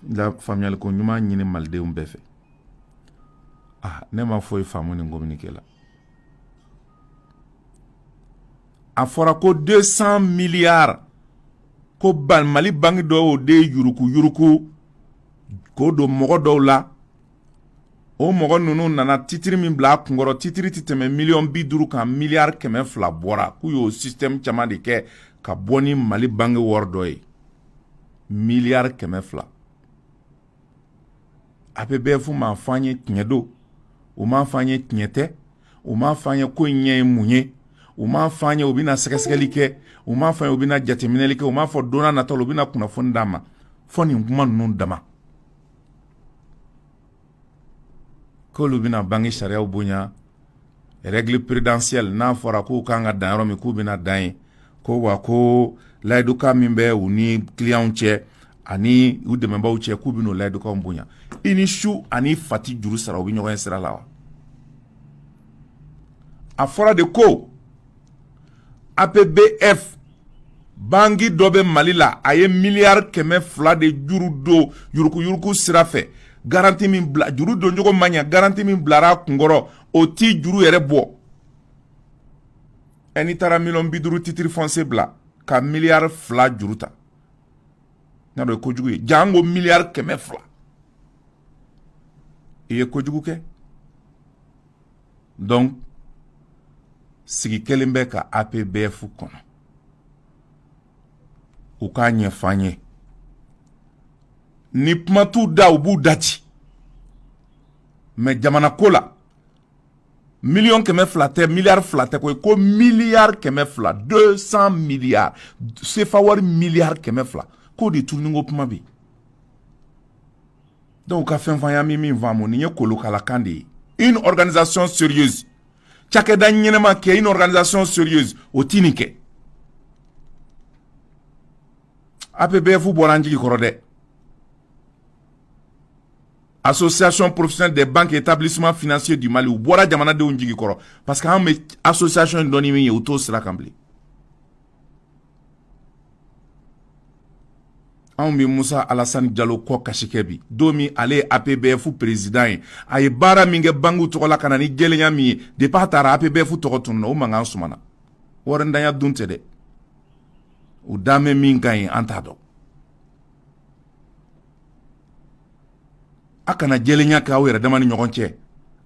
la faamuyali ko ɲuman ɲini malidenw bɛɛ fɛ ah ne ma foyi faamu nin communiqué la a fɔra ko 200 milliards ko mali banki dɔw de yuruku yuruku k'o don mɔgɔ dɔw la o mɔgɔ ninnu nana titiri min bila a kunkɔrɔ titiri tɛ tɛmɛ miliyɔn bi duuru kan miliyari kɛmɛ fila bɔra k'u y'o sistɛmu caman de kɛ ka bɔ ni mali banki wari dɔ ye miliyari kɛmɛ fila apbf m'a fɔ an ye tiɲɛ don u m'a fɔ an ye tiɲɛ tɛ u m'a fɔ an ye ko in ɲɛ ye mun ye u m'a fɔ an ye u bɛna sɛgɛsɛgɛli kɛ u m'a fɔ an ye u bɛna jateminɛli kɛ u m'a fɔ don nataw la u bɛna kunnafoni d'an ma fo nin kuma ninnu dama K'olu bɛna banki sariyaw bonya règle prudentielle n'a fɔra k'u kan ka dan yɔrɔ min k'u bɛna dan yen ko wa ko layidukan min bɛ u ni kiliyanw cɛ ani u dɛmɛbaw cɛ k'u bɛna o layidukanw bonya i ni su ani i fa tɛ juru sara u bɛ ɲɔgɔn ye sira la wa a fɔra de ko APBF banki dɔ bɛ Mali la a ye miliyari kɛmɛ fila de juru don yurukuyuruku sira fɛ garanti min bila juru doncogo ma ɲa garanti min bilara a kunkɔrɔ o tɛ juru yɛrɛ bɔ ɛ n'i taara miliyɔn bi duuru titiri fɔnsiye bila ka miliyari fila juru ta n'a dɔn ye kojugu ye janko miliyari kɛmɛ fila i ye kojugu kɛ dɔnku sigi kelen bɛ ka apbf kɔnɔ u k'a ɲɛfɔ an ye ni kuma t'u da u b'u dade mɛ jamana ko la miliyɔn kɛmɛ fila tɛ miliyari fila tɛ koyi ko miliyari kɛmɛ fila deux cent miliyari sefa wari miliyari kɛmɛ fila k'o de tununni ko kuma bɛ yen Dɔw ka fɛnfaya min min faamu nin ye kolokalakan de ye i nikanizson siri cakɛda ɲɛnama kɛ i nikanzson siri o t nin kɛ a bɛ bɛɛ fu bɔra an jigi kɔrɔ dɛ a so siyasonɔn porosɛ de bange ke taabili tasuma fse di mali u bɔra jamanadenw jigi kɔrɔ pa que an bɛ a so siyasonɔn dɔn min ye u t'o sira kan bilen anw bɛ musa alasani jalo kɔ kasi kɛ bi don min ale ye apbf perezidan ye a ye baara min kɛ bankiw tɔgɔ la ka na ni jɛlenya min ye depi a taara apbf tɔgɔ tununa o mankan sumana warintanya dun tɛ dɛ u dan bɛ min kan yen an t'a dɔn a kana jɛlenya kɛ aw yɛrɛ dama ni ɲɔgɔn cɛ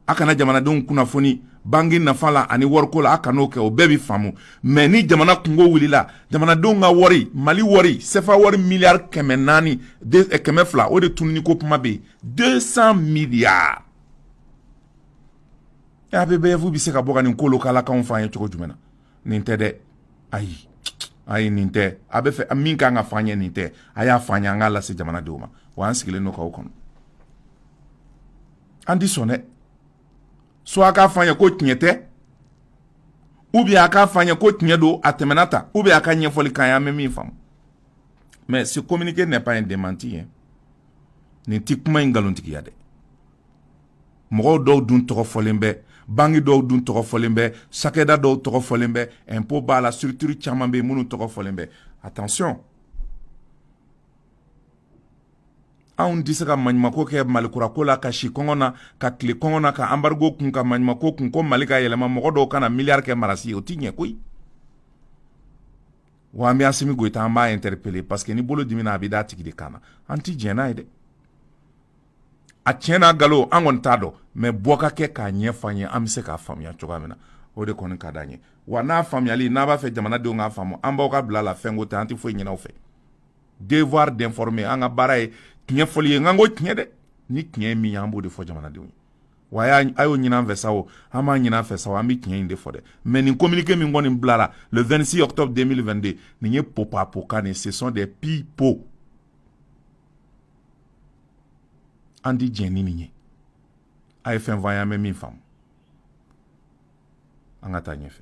a kana jamanadenw kunnafoni banki nafa la ani wariko la a kan'o kɛ o bɛɛ bɛ faamu mais ni jamana kungo wulila jamanadenw ka wari mali wari sefa wari miliyari kɛmɛ naani eh, kɛmɛ fila o de tununi ko kuma bɛ yen deux cents milliards APBEF bɛ se ka bɔ ka nin kolokalakanw fɔ an ye cogo jumɛn na nin tɛ dɛ ayi ayi nin tɛ a bɛ fɛ min ka kan ka fɔ an ye nin tɛ a y'a fɔ an ye an k'a lase jamanadenw ma wa an sigilen don k'aw kɔnɔ an ti sɔn dɛ soit a k'a fɔ an ye ko tiɲɛ tɛ ou bien a k'a fɔ an ye ko tiɲɛ don a tɛmɛna tan ou bien a ka ɲɛfɔli k'an ye an bɛ min faamu mais ce communiqué n'est pas un démenti ye nin ti kuma in nkalontigiya dɛ mɔgɔw dɔw dun tɔgɔ fɔlen bɛ banki dɔw dun tɔgɔ fɔlen bɛ cakɛda dɔw tɔgɔ fɔlen bɛ impôt b'a la structure caman bɛ minnu tɔgɔ fɔlen bɛ attention anw tɛ se ka maɲumanko kɛ mali kurako la ka si kɔngɔ na ka tile kɔngɔ na ka embargo kun ka maɲumanko kun ko mali ka yɛlɛma mɔgɔ dɔw kana na miliyari kɛ marasi ye o tɛ ɲɛ koyi wa an bɛ asimi goyita an b'a interpeller parce que ni bolo dimina a bɛ d'a tigi de kan na an tɛ diɲɛ n'a ye dɛ a tiɲɛ n'a nkalon an kɔni t'a dɔn mais bɔ ka kɛ k'a ɲɛfɔ an ye an bɛ se k'a faamuya cogoya min na o de kɔni ka d'an ye wa n'a faamuyali n'a b'a fɛ jamanadenw k'a faamu an b'aw ka bila la fɛnko tɛ an tɛ foyi ɲini aw fɛ devoir d'informer an ka baara ye tiɲɛ fɔli ye nka n ko tiɲɛ dɛ ni tiɲɛ ye min ye an b'o de fɔ jamanadenw ye wa a y'o ɲinin an fɛ sa o a m'a ɲinin an fɛ sa o an bɛ tiɲɛ in de fɔ dɛ mais nin communiqué min kɔni bilara le 26 octobre 2022 nin ye popapoka nin ce sont des pipeaux an ti jɛn ni nin ye a ye fɛn fɔ an ye an bɛ min faamu an ka taa ɲɛfɛ